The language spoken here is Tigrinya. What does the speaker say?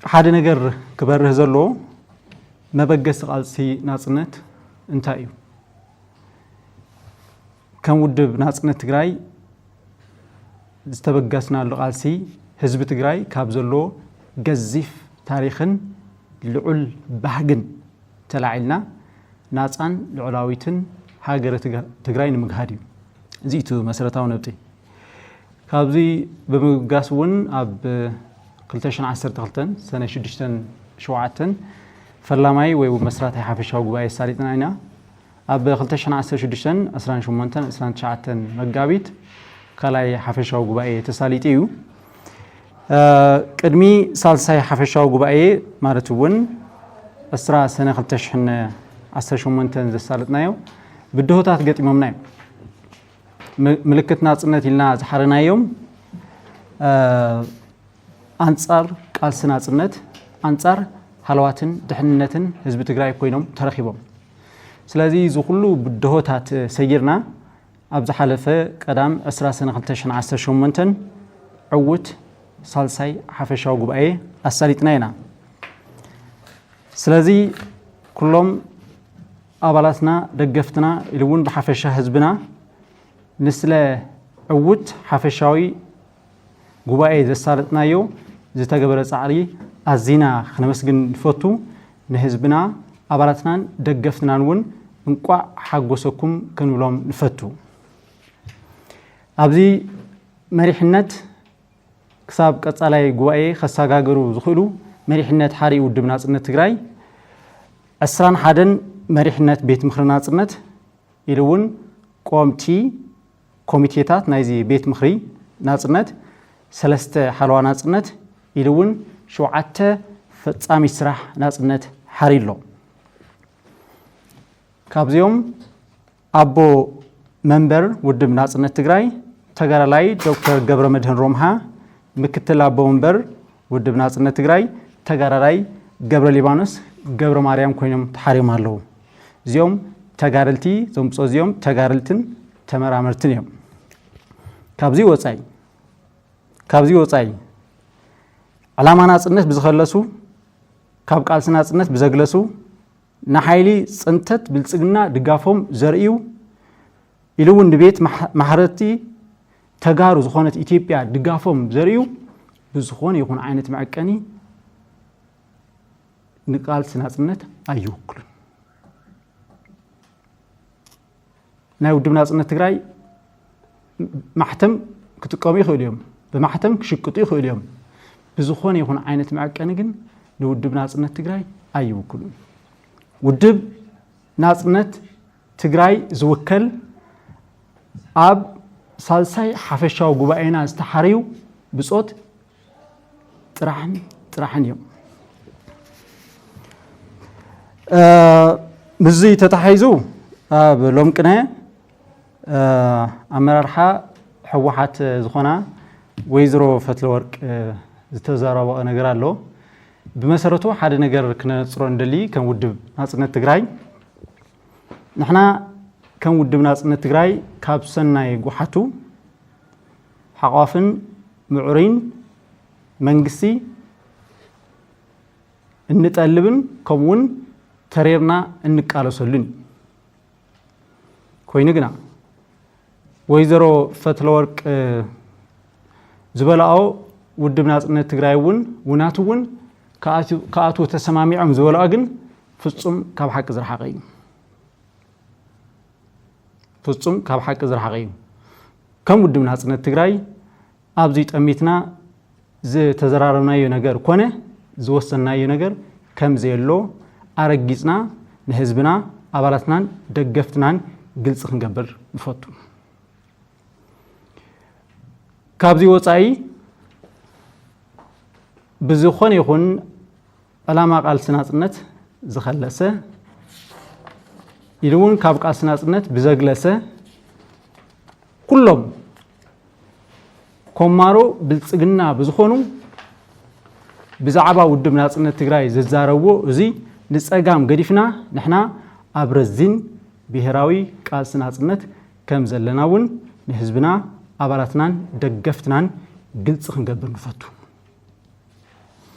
ሓደ ነገር ክበርህ ዘለዎ መበገሲ ቃልሲ ናፅነት እንታይ እዩ? ከም ውድብ ናፅነት ትግራይ ዝተበገስናሉ ቃልሲ ህዝቢ ትግራይ ካብ ዘለዎ ገዚፍ ታሪኽን ልዑል ባህግን ተላዒልና ናፃን ልዑላዊትን ሃገረ ትግራይ ንምግሃድ እዩ። እዚ እቲ መሰረታዊ ነጥቢ። ካብዚ ብምብጋስ እውን ኣብ 2012 ሰነ ሽዱሽተን ሸውዓተን ፈላማይ ወይ እውን መስራታይ ሓፈሻዊ ጉባኤ ኣሳሊጥና ኢና። ኣብ 2016 ዕስራን ሸሞንተን ዕስራን ትሽዓተን መጋቢት ካልኣይ ሓፈሻዊ ጉባኤ ተሳሊጡ እዩ። ቅድሚ ሳልሳይ ሓፈሻዊ ጉባኤ ማለት እውን ዕስራ ሰነ 2018 ዘሳለጥናዮ ብድሆታት ገጢሞምና እዮም። ምልክት ናጽነት ኢልና ዝሓረናዮም ኣንጻር ቃልሲ ናጽነት ኣንጻር ሃለዋትን ድሕንነትን ህዝቢ ትግራይ ኮይኖም ተረኺቦም ስለዚ እዚ ኩሉ ብድሆታት ሰጊርና ኣብ ዝሓለፈ ቀዳም 20 ሰነ 2018 ዕውት ሳልሳይ ሓፈሻዊ ጉባኤ ኣሳሊጥና ኢና ስለዚ ኩሎም ኣባላትና፣ ደገፍትና ኢሉ እውን ብሓፈሻ ህዝብና ንስለ ዕዉት ሓፈሻዊ ጉባኤ ዘሳለጥናዮ ዝተገበረ ፃዕሪ ኣዚና ክነመስግን ንፈቱ። ንህዝብና፣ ኣባላትናን ደገፍትናን እውን እንቋዕ ሓጎሰኩም ክንብሎም ንፈቱ። ኣብዚ መሪሕነት፣ ክሳብ ቀፃላይ ጉባኤ ከሳጋግሩ ዝኽእሉ መሪሕነት ሓርኢ ውድብ ናፅነት ትግራይ ዕስራን ሓደን መሪሕነት ቤት ምኽሪ ናፅነት ኢሉ እውን ቆምቲ ኮሚቴታት ናይዚ ቤት ምኽሪ ናፅነት ሰለስተ ሓለዋ ናፅነት ኢሉ እውን ሸውዓተ ፈፃሚት ስራሕ ናፅነት ሓሪ ኣሎ ካብዚኦም ኣቦ መንበር ውድብ ናፅነት ትግራይ ተጋዳላይ ዶክተር ገብረመድህን ሮምሃ፣ ምክትል ኣቦ መንበር ውድብ ናፅነት ትግራይ ተጋዳላይ ገብረሊባኖስ ገብረማርያም ኮይኖም ተሓርዮም ኣለዉ። እዚኦም ተጋደልቲ እዞም ብፆ እዚኦም ተጋደልትን ተመራመርትን እዮም። ካብዚ ወፃኢ ካብዚ ወፃኢ ዕላማ ናፅነት ብዝኸለሱ ካብ ቃልሲ ናፅነት ብዘግለሱ ንሓይሊ ፅንተት ብልፅግና ድጋፎም ዘርእዩ ኢሉ እውን ንቤት ማሕረርቲ ተጋሩ ዝኾነት ኢትዮጵያ ድጋፎም ዘርእዩ ብዝኾነ ይኹን ዓይነት መዐቀኒ ንቃልሲ ናፅነት ኣይውክሉን። ናይ ውድብ ናጽነት ትግራይ ማሕተም ክጥቀሙ ይኽእሉ እዮም፣ ብማሕተም ክሽቅጡ ይኽእሉ እዮም። ብዝኾነ ይኹን ዓይነት መዐቀኒ ግን ንውድብ ናጽነት ትግራይ ኣይውክሉን። ውድብ ናጽነት ትግራይ ዝውከል ኣብ ሳልሳይ ሓፈሻዊ ጉባኤና ዝተሓርዩ ብጾት ጥራሕን ጥራሕን እዮም ምስዚ ተታሒዙ ኣብ ሎም ቅነ ኣመራርሓ ሕወሓት ዝኾና ወይዘሮ ፈትለወርቅ ዝተዘረበኦ ነገር ኣሎ ብመሰረቱ ሓደ ነገር ክነነፅሮ እንደሊ ከም ውድብ ናፅነት ትግራይ ንሕና ከም ውድብ ናፅነት ትግራይ ካብ ሰናይ ጉሓቱ ሓቋፍን ምዑሩይን መንግስቲ እንጠልብን ከምኡ ውን ተሪርና እንቃለሰሉን እዩ። ኮይኑ ግና ወይዘሮ ፈትለወርቅ ዝበላኦ ውድብ ናጽነት ትግራይ እውን ውናት እውን ክኣትዉ ተሰማሚዖም ዝበላኦ ግን ፍጹም ካብ ሓቂ ዝረሓቐ እዩ። ፍፁም ካብ ሓቂ ዝረሓቐ እዩ። ከም ውድብ ናፅነት ትግራይ ኣብዚ ጠሚትና ዝተዘራረብናዮ ነገር ኮነ ዝወሰንናዮ ነገር ከም ዘየሎ ኣረጊፅና ንህዝብና፣ ኣባላትናን ደገፍትናን ግልፂ ክንገብር ንፈቱ። ካብዚ ወፃኢ ብዝኾነ ይኹን ዕላማ ቃልሲ ናጽነት ዝኸለሰ ኢሉ እውን ካብ ቃልሲ ናጽነት ብዘግለሰ ኩሎም ኮማሮ ብልጽግና ብዝኾኑ ብዛዕባ ውድብ ናጽነት ትግራይ ዝዛረብዎ እዚ ንጸጋም ገዲፍና ንሕና ኣብ ረዚን ብሄራዊ ቃልሲ ናጽነት ከም ዘለና እውን ንህዝብና ኣባላትናን ደገፍትናን ግልፂ ክንገብር ንፈቱ።